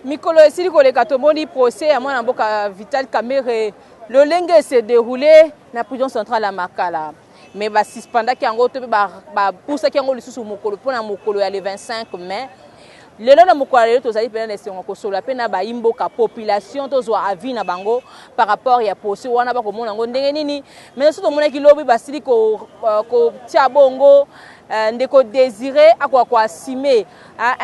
mikolo esili koleka tomoni procès ya mwana mboka vital kamere lolenge ese déroule na prison centrale ya makala me basuspendaki yango to mpe bapusaki yango lisusu mokolo mpo na mokolo ya le 25 mai Lelo na mokolo ya lelo tozali pena na esengo kosolola pe na bayi mboka population tozwa avis na bango par rapport ya poso wana bakomona yango ndenge nini mais soki tomonaki lobi basili ko euh, kotia bongo euh, ndeko Desire akoka ko assumer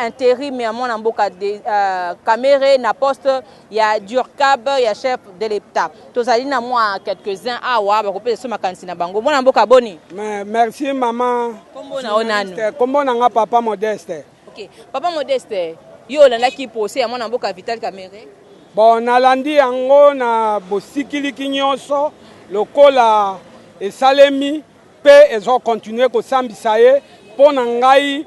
interim ya mwana mboka de, euh, Kamere na poste ya Durcab ya chef de l'État tozali na mwa quelques-uns awa bakopesa so makanisi na bango mwana mboka boni merci maman kombo na yo nanu kombo na nga papa modeste Ok papa Modeste, yo olandaki procès ya mwana mboka Vital Kamerhe? Bon, nalandi yango na bosikiliki nyonso lokola esalemi mpe ezo continuer kosambisa ye mpo na ngai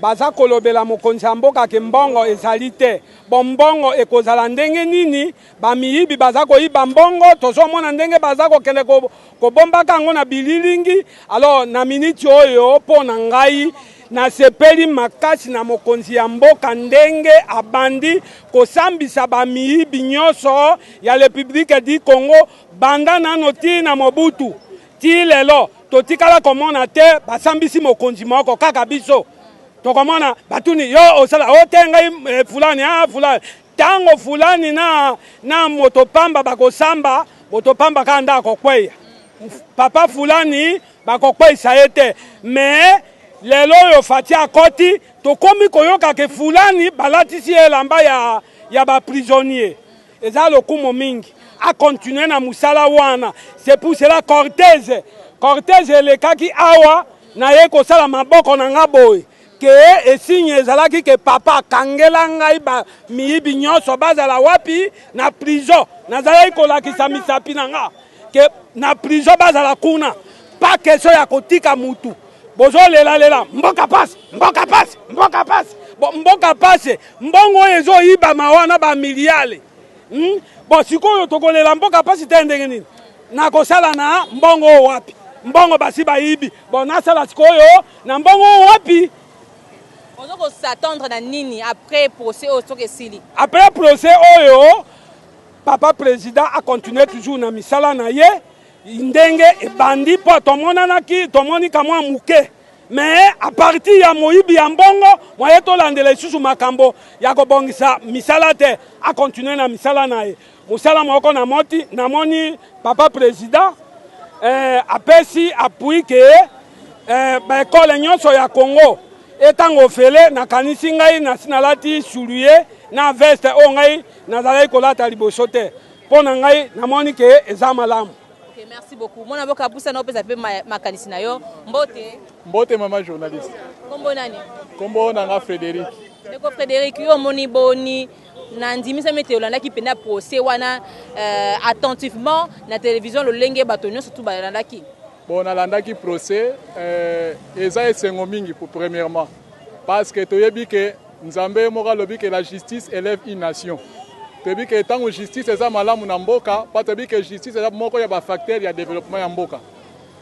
baza kolobela mokonzi ya mboka ke mbongo ezali te. Bon, mbongo ekozala ndenge nini? Ba miyibi baza koyiba mbongo tozomona ndenge baza kokende ko, kobombaka yango na bililingi. Alors na miniti oyo mpo na ngai nasepeli makasi na mokonzi ya mboka ndenge abandi kosambisa ba miyibi nyonso ya Republique du Congo banda nano ti na Mobutu ti lelo totikala komona te basambisi mokonzi moko kaka biso tokomona batuni yo osala ote ngai eh, fulani ah fulani Tango fulani na na moto pamba bakosamba, moto pamba kaka nde akokweya. Papa fulani bakokweyisa ye te. Mais lelo oyo Fatshi akoti, tokomi koyoka ke fulani balatisi ye elamba ya, ya ba prisonnier. Eza lokumu mingi. A continuer na musala wana. C'est pour cela cortège, cortège elekaki awa naye kosala maboko na nga boye. Que esignes ezalaki que papa kangela ngai ba miyibi nionso bazala wapi na prison nazalaki kolakisa misapi na nga que na prison bazala kuna pas question ya kotika mutu bozo lela lela mboka pasi mboka pasi mboka pasi bo mboka pasi mbongo oyo ezo yibama wana ba miliale hmm? bo sikoyo tokolela mboka pasi te ndenge nini nakosala na mbongo oyo wapi mbongo basi bayibi bo nasala sikoyo Na mbongo oyo wapi? Ozo ko s'attendre na nini après procès oyo soki esili? Après procès oyo papa president a continuer toujours na misala na ye ndenge ebandi mpo tomonanaki tomoni kamwa moke mais a partir ya moyibi ya mbongo moye tolandela lisusu makambo ya kobongisa misala te a continuer na misala na ye Musala moko na moti na moni papa president eh, apesi appui ke eh, ba ekole nyonso ya Congo etanga ofele na kanisi ngai na sinalati suluye na veste oyo ngai nazalaki kolata liboso te mpo na ngai namoni ke eza malamu okay, merci beaucoup mwana boka apusa na opesa mpe makanisi na yo mbote mbote mama journaliste kombo nani kombo na nga frédéric ndeko frédéric yo omoni boni Nandimisami ete olandaki mpenza procès wana euh, attentivement na television lolenge bato nyonso tu balandaki. Bon, nalandaki procès euh, eza esengo mingi pour premièrement parce que toyebi ke Nzambe ye moko alobi ke la justice élève une nation. Toyebi ke ntango justice eza malamu na mboka, pa toyebi ke justice eza moko ya ba facteurs ya développement ya mboka.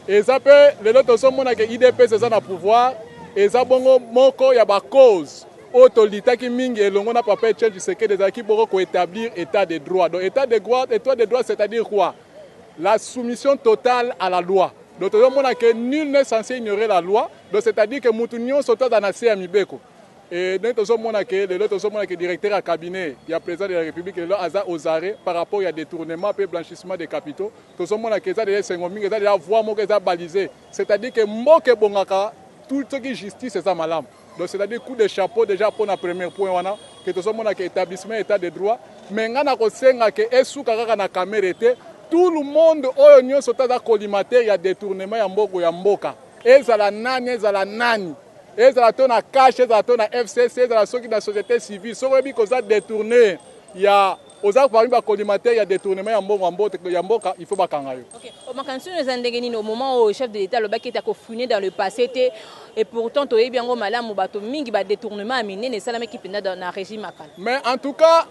Eza mpe lelo tozomona ke IDPS eza na pouvoir, eza bongo moko ya ba cause oyo to litaki mingi elongo na papa Etienne Tshisekedi ezalaki boko ko etablir etat de droit donc etat de droit etat de droit c'est à dire quoi la soumission totale à la loi donc tozo mona que nul n'est censé ignorer la loi donc c'est à dire que mutu nionso to aza na se ya mibeko et donc tozo mona que lelo tozo mona que directeur ya cabinet ya president de la republique lelo aza aux arrêts par rapport ya detournement pe blanchissement de capitaux tozo mona que eza deja esengo mingi eza deja voie moko eza baliser c'est à dire que mboka ebongaka tout soki justice eza malamu Donc c'est à dire coup de chapeau dejà pona premier point wana que tozo mona que etablissement etat de droit mais nga na kosenga que esuka kaka na kamere te tout le monde oyo nionso taza collimateur ya detournement ya mboko ya mboka ezala nani ezala nani ezala to na cash ezala to na FCC ezala soki na société civile soki oyebi koza detourner ya Oza parmi ba collimateur ya detournement ya mbongo ya mboka il faut ba kanga yo. Okay. Oh, makanisi oyo eza ndenge nini au moment oyo chef de l'etat alobaki ete akofouine dans le passé te et pourtant toyebi yango malamu bato mingi ba detournement ya minene esalamaki mpenza na régime ya kala. Mais en tout cas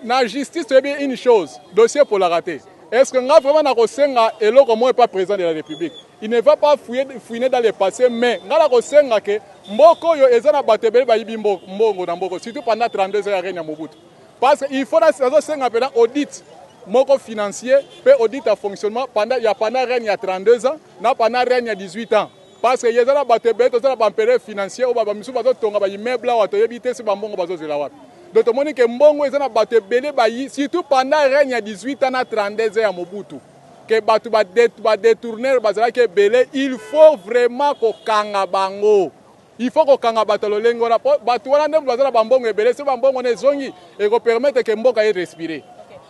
na justice toyebi une chose dossier epolaka te. Est ce que nga vraiment nakosenga eloko moko epa président de la république il ne va pas fouiller, fouiner dans le passé mais nga nakosenga ke mboka oyo eza na bato ebele bayibi mbongo na mboka surtout pendant 32 ans ya règne ya mobutu Parce que il faut na nazo senga pena audit moko financier pe audit ya fonctionnement pendant ya pendant règne ya 32 ans na pendant règne ya 18 ans. Parce que yeza na bato ebele toza na ba empereur financier oyo ba misusu bazo tonga ba immeuble awa toyebi te si ba mbongo bazo zela wapi. Donc tomoni que mbongo eza na bato ebele bayi surtout pendant règne ya 18 ans na 32 ans ya Mobutu que bato ba detourneur bazalaki ebele il faut vraiment ko kanga bango. Il faut ko kanga bato ya lolenge wana po bato wana nde baza na ba mbongo ebele soki ba mbongo wana ezongi eko permettre que mboka e respirer.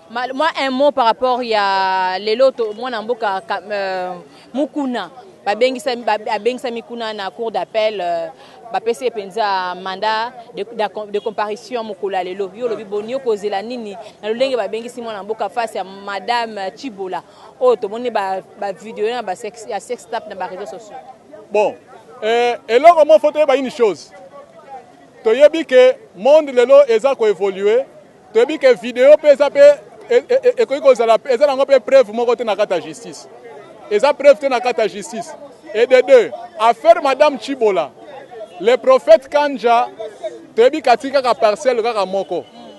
Okay. Moi un mot par rapport ya lelo to mwana mboka euh, Mukuna babengisami abengisami kuna na cour d'appel euh, bapesi ye mpenza mandat de, de, de comparution mokolo ya lelo yo olobi boni yo kozela nini na lolenge babengisi mwana mboka face ya madame chibola oyo tomoni ba video na ba sex ya sex tap na ba réseaux sociaux bon euh, eloko moko toyeba une chose toyebi ke monde lelo eza ko évoluer toyebi ke video mpe eza mpe e, e, e, ekoki kozala eza nango mpe preuve moko te na kati ya justice eza preuve te na kati ya justice et de deux affaire madame chibola le prophète kanja toyebi kati kaka parcelle kaka moko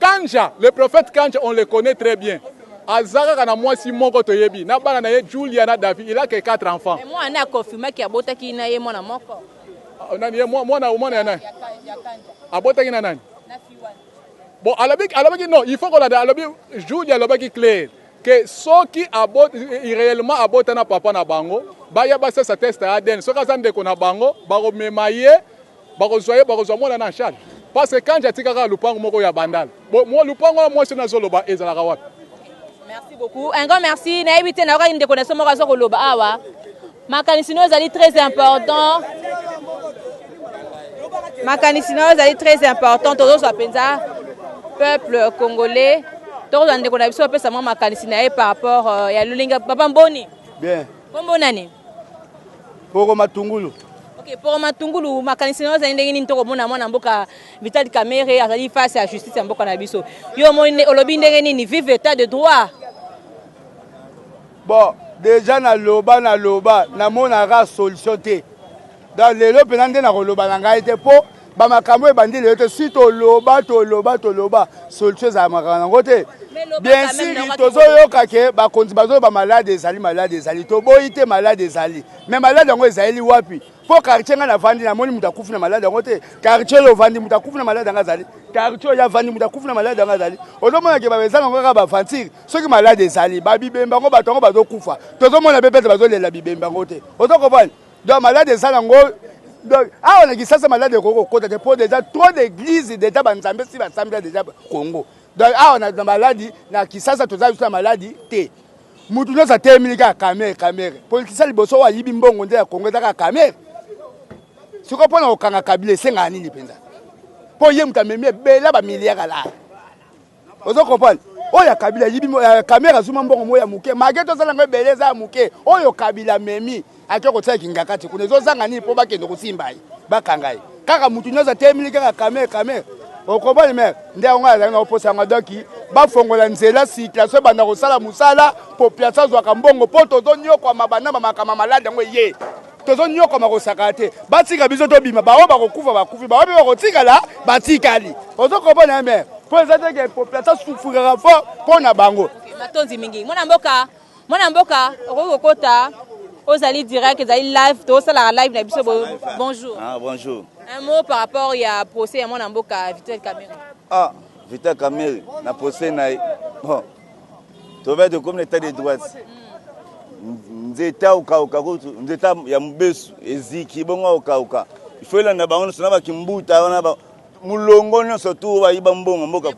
Kandja, le prophète Kandja on le connait très bien aza kaka na mwasi moko toyebi na bana na ye Julia na Davi il a que 4 enfants. Mais mwana naye a confirma que abotaki na ye mwana moko. Nani ye mwana mwana ya nani? Abotaki na nani? Bon alobaki alobaki non il faut kolanda alobi Julia alobaki clair que soki abot réellement abota na papa na bango baya basasa test ya ADN soki aza ndeko na bango bakomema ye Bakozua ye bakozua mwana na en charge parce que kandji atika kaka lupangu moko ya bandal bo lupangu wana mwasi wana azo loba ezalaka wapi? Merci beaucoup un grand merci nayebi te nayokaki ndeko na biso moko azo koloba awa makanisi no ezali très important makanisi no ezali très important tozozwa mpenza peuple congolais tokozwa ndeko na biso apesa mwa makanisi na ye par rapport euh, ya lolinga papa mboni bien kombo nani Poro Matungulu. Ok, Poro Matungulu, makanisi na yo ezali ndenge nini to komona mwana mboka Vital Kamerhe azali face ya justice ya mboka na biso? Yo omoni olobi ndenge nini? Vive l'état de droit. Bon, deja na loba na loba na mona ka solution te. Donc lelo pena nde na koloba na ngai te po ba makambo ebandi lelo te si toloba toloba toloba solution ezala makambo yango te bien sûr tozoyoka ke bakonzi bazoloba malade ezali malade ezali toboyi te malade ezali mais malade yango ezaleli wapi mpo quartier ngai navandi namoni moto akufi na malade yango te quartier oyo ovandi moto akufi na malade yango azali quartier oyo avandi moto akufi na malade yango azali ozomona ke baeza nango kaka bavantire soki malade ezali babibemba yango bato yango bazokufa tozomona mpe pete bazolela bibemba yango te ozokomprane Donc malade eza nango donc awa na Kinshasa malade ekoki kokota te mpo deja trop d'église deja banzambe si basambela deja Congo donc awa na, na maladi na Kinshasa toza biso na maladi te mutu nyonso atelemeli kaka kamere kamere politisien liboso oyo ayibi mbongo nde ya Congo eza kaka kamere sikoyo mpo na kokanga kabila esengaka nini mpenza mpo ye moto amemi ebela bamiliare alaa ozo comprendre oyo ya kabila yibi ya kamera zuma mbongo mo ya moke mage tozala yango ebele eza ya moke oyo kabila memi ake kotia kingakati kuna ezozanga nini mpo bakende kosimba ye bakanga ye kaka motu nyonso atemeli kaka kamere kamere okomoni mere nde yango azali na oposa yango donki bafongola nzela situation ebanda kosala mosala population azwaka mbongo mpo tozonyokwama banama makama maladi yango eye tozo nyokoma kosakana te batika biso tobima baoyo bakokufa bakufi baoyo mpe bakotikala batikali ozo kobona me mpo eza te ke population asufraka fo mpo na bango matondi mingi mwana mboka mwana mboka okoki kokota ozali direct ezali live tosalaka live na biso bonjour ah, bonjour un mot par rapport ya procès ya mwana mboka vital camere ah vital camere na procès na ye bon tove tokomi na etat de droite nzete aokauka kutu nzete ya mobesu eziki bongo aokauka ifo elanda bango nyonso na bakimbuta wana ba mulongo nyonso tu bayiba mbongo mboka eh,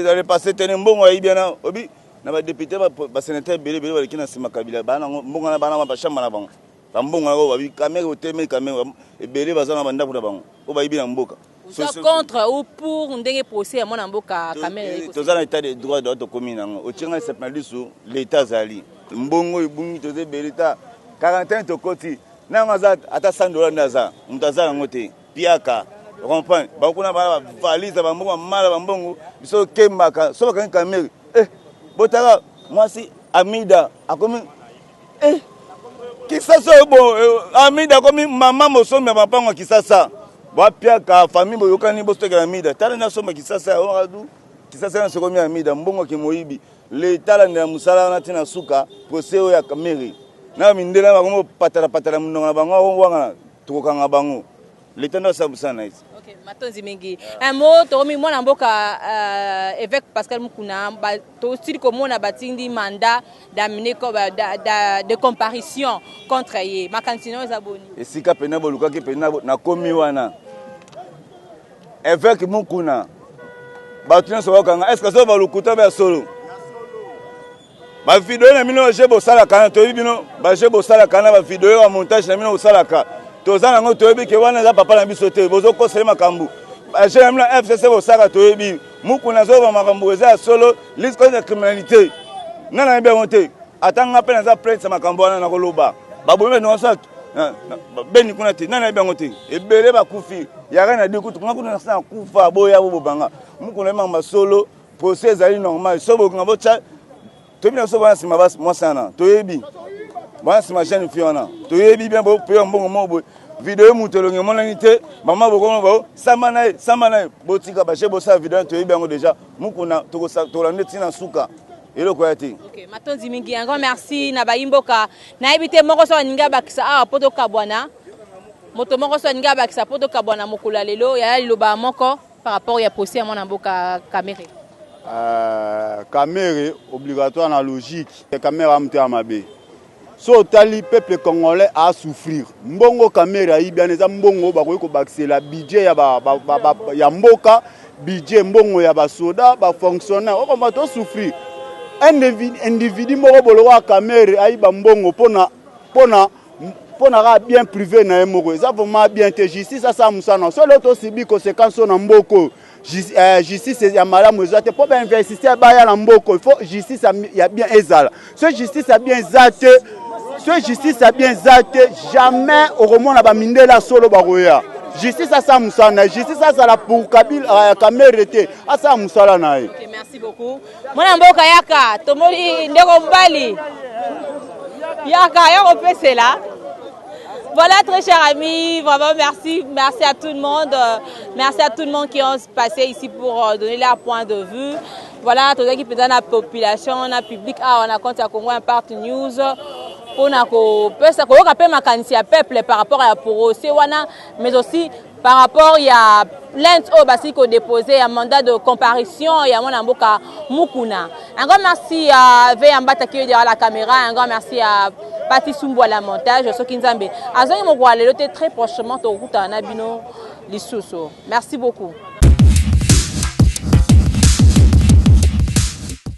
dans le passé te ne mbongo ayibi wana obi na badepute basenateur ebele ebele baleki na nsima kabila mbongo wana bana bashamba na bango bambongo yango babi kamere otemeli kamere ebele baza na bandako na bango oyo bayibi na mboka Oza contre ou pour ndenge procès ya mwana mboka Kamere Toza na état de droit droit tokomi nango. Otie ngai sepna lisu l'etat azali. Mbongo ebungi toza ebele ta 41 tokoti nanga aza ata 100 dollars nde aza mutu aza nango te piaka comprendre bango kuna bana bavalise na bambongo bamala bambongo biso okembaka so bakangi kamere eh botala mwasi amida akomi Eh, kisasa oyo bo eh, amida akomi mama mosombi ya mapango ya kisasa bapiaka famille boyokani bostekela amida tala nde asomba kisasa ya oradu kisasa nyonso ekomi amida mbongo kimoyibi leta alandela mosala wana ntina suka prose oyo ya meri na mindele na bango patalapatala monoko na bango awangana tokokanga bango leta nde asala mosala na ye okay, matondi mingi yeah. un mot tokomi mwana mboka uh, évêque pascal mukuna tosili komona batindi mandat d'amener de comparition contre ye makanisi nayo eza boni esika mpena bolukaki mpena nakomi wana évêque mukuna bato nyonso bakanga est ce que azoba lokuta ba ya solo Ba video na bino je bosalaka na toyebi bino ba je bosalaka na ba video ya montage na bino bosalaka toza nango toyebi ke wana eza papa na biso te bozokosele makambo ba je na bino fcc bosalaka toyebi muku nazoloba makambo eza ya solo liste contre la criminalité nga nayebi yango te ata nga mpe naza plainte ya makambo wana nakoloba babomi bato nyonso beni kuna te nani ayebi yango te ebele bakufi yaka na di kutu nga kuna nasa nakufa boya bobobanga mukuna emanga masolo Procès ezali normal. Soki bokinga botia toyebi na biso bana nsima mwasi wana toyebi bana nsima jeune fille wana toyebi bien bopeya mbongo moko boye video moto elongi emonani te mama bokoma bao samba na ye samba na ye botika baje bosala video wana toyebi yango deja mokuna tokolanda nde ntina suka eloko ya te okay, matondi mingi yango merci na bayimboka nayebi te moko so aningi abakisa awa mpo tokabwana moto moko so aningi abakisa mpo tokabwana mokolo ya lelo yaya liloba moko Par rapport ya procès ya mwana mboka Kamere. Euh, Kamere obligatoire na logique. Kamere a motema mabe. So otali peuple congolais a souffrir. Mbongo Kamere ayibi ana eza mbongo bakoki kobakisela budget ya, ba, ba, ba, ba, ya mboka, budget mbongo ya basoda, bafonctionnaire. Okomba to souffrir. Un individu moko bolokola Kamere ayiba mbongo mpona mpona pona kaka bien privé na ye moko eza vraiment bien te justice asala mosala na solo tosibi conséquence oyo na mboka oyo euh, justice ya malamu eza te mpo bainvestisseur baya na mboka il faut justice ya bien ezala so justice ya bien eza te so justice ya bien eza te jamais okomona bamindele ya solo bakoya justice asala mosala na ye justice azala pour kabila euh, kamere te asala mosala na ye okay, merci beaucoup. Mwana mboka yaka tomoni ndeko mobali yaka ya kopesela Voilà, très chers amis, vraiment merci, merci à tout le monde, euh, merci à tout le monde qui ont passé ici pour euh, donner leur point de vue. Voilà, tout ce qui peut la population, la public, ah, on a compte à Congo Impact News. mpona kopesa koyoka mpe makanisi ya peuple par rapport ya procès wana mais aussi par rapport ya plainte oyo basili ko deposer ya mandat de comparution ya mwana mboka Mukuna. Un grand merci à Veya Mbata qui est derrière la caméra, un grand merci à Pati Sumbu à la montage, soki Nzambe azongi mokola lelo te très prochainement tokutana na bino lisusu. Merci beaucoup.